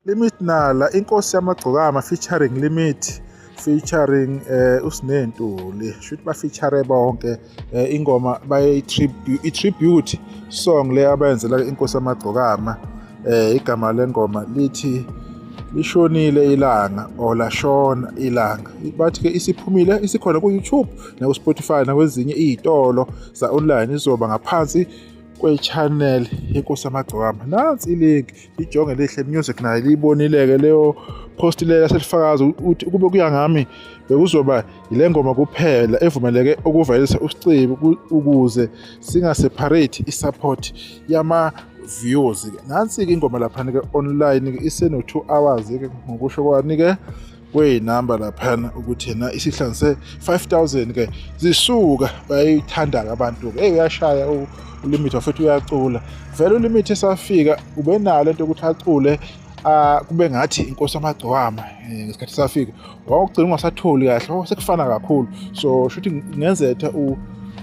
Limit Nala inkosi yamagcokama featuring Limit featuring eh uSinentuli shuthi ba feature bonke eh, ingoma baye tribute i tribute song le abayenzela inkosi yamagcokama eh igama lengoma lithi lishonile ilanga or lashona ilanga bathi ke isiphumile isikhona ku YouTube naku-spotify nakwezinye iy'tolo za-online izoba ngaphansi kwe-channel yenkosi yamagcokama nansi ilink ijonge lihle music nayo liyibonileke leyo post leyo yaselifakaza ukuthi ukube kuya ngami bekuzoba yile ngoma kuphela evumeleke ukuvalisa usicebi ukuze singaseparate i-support yama views nansi-ke ingoma laphana-ke online-ke iseno-two hours-ke ngokusho kwani-ke kweyinamba laphana ukuthi yena isihlangu se-5000 ke zisuka bayayithanda-ke abantu-ke eyi uyashaya ulimit wafuthi uyacula vele ulimit esafika ubenalo into yokuthi acule ah, kube ngathi inkosi amagcwama eh, ngesikhathi safika wawugcina ungasatholi kahle oh, sekufana kakhulu so shuthi ngenzetha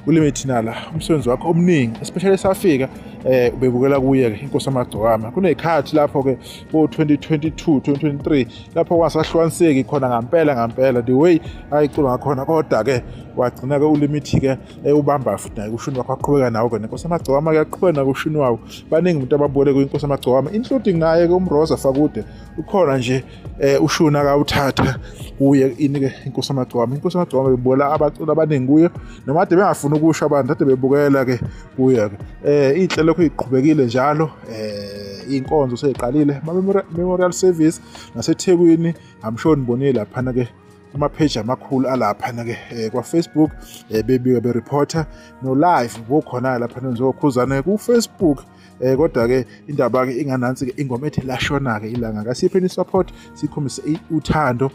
ulimit nala umsebenzi wakho omningi especially esafika eh ubebukela kuye ke inkosi amagcokama kunezikhathi lapho ke bo 2022 2023 lapho kwasahlukaniseki khona ngampela ngampela the way ayicula ngakhona kodwa ke wagcina ke ulimithi ke ewubamba futhi naye kushini wakho aqhubeka nawo ke nenkosi amagcokama ke aqhubeka nakushini wawo baningi umuntu ababole kwinkosi amagcokama including naye ke umroza fakude ukhona nje eh, ushuni akawuthatha kuye ini ke inkosi amagcokama inkosi amagcokama bebola abacula abaningi kuyo noma ade bengafuni ukusho abantu ade bebukela ke kuya-ke um inhle lokho iqhubekile njalo um iy'nkonzo seyiqalile ama-memorial service nasethekwini amsho nibonile laphana-ke amapheji amakhulu alaphana-ke um kwafacebook um bebike bereporter no-live kukhona-ke laphana njengokhuzane kufacebook um eh, kodwa-ke indaba-ke inganansi-ke ingoma ethi lashona-ke ilanga kasiphe ni-support sikhombise uthando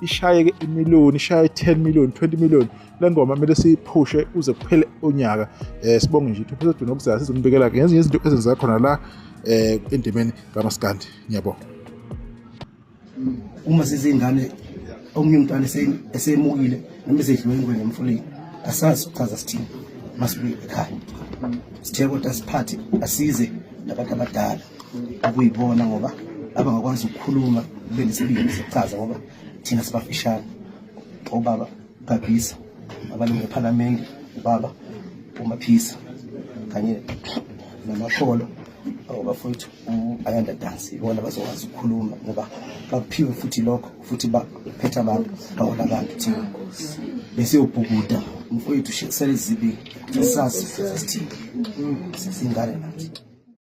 ishayeke imiliyoni ishaye 10 million 20 million le ngoma kumele siyiphushe uze kuphele unyaka um sibonge nje ithuphisa duna okuzayo sizombikela ke ngezinye izinto ezenzeka khona la um endimeni kamaskandi ngiyabonga uma sizingane omunye umntwana esemukile noma esedliwe ingwenya emfuleni asazi ukuchaza sithini masibuye ekhaya sithe kodwa siphathe asize nabantu abadala okuyibona ngoba abangakwazi ukukhuluma kube nesibindi sokuchaza ngoba thina sibafishane obaba gabhisa abalungu ephalamende ubaba umaphisa kanye namasholo abafowethu u-ayanda dance ibona bazokwazi ukukhuluma ngoba bakuphiwe futhi lokho futhi baphethe abantu bahola abantu thina besiyobhukuda mfowethu shekisela izibi sasazi sasithini sasingane nathi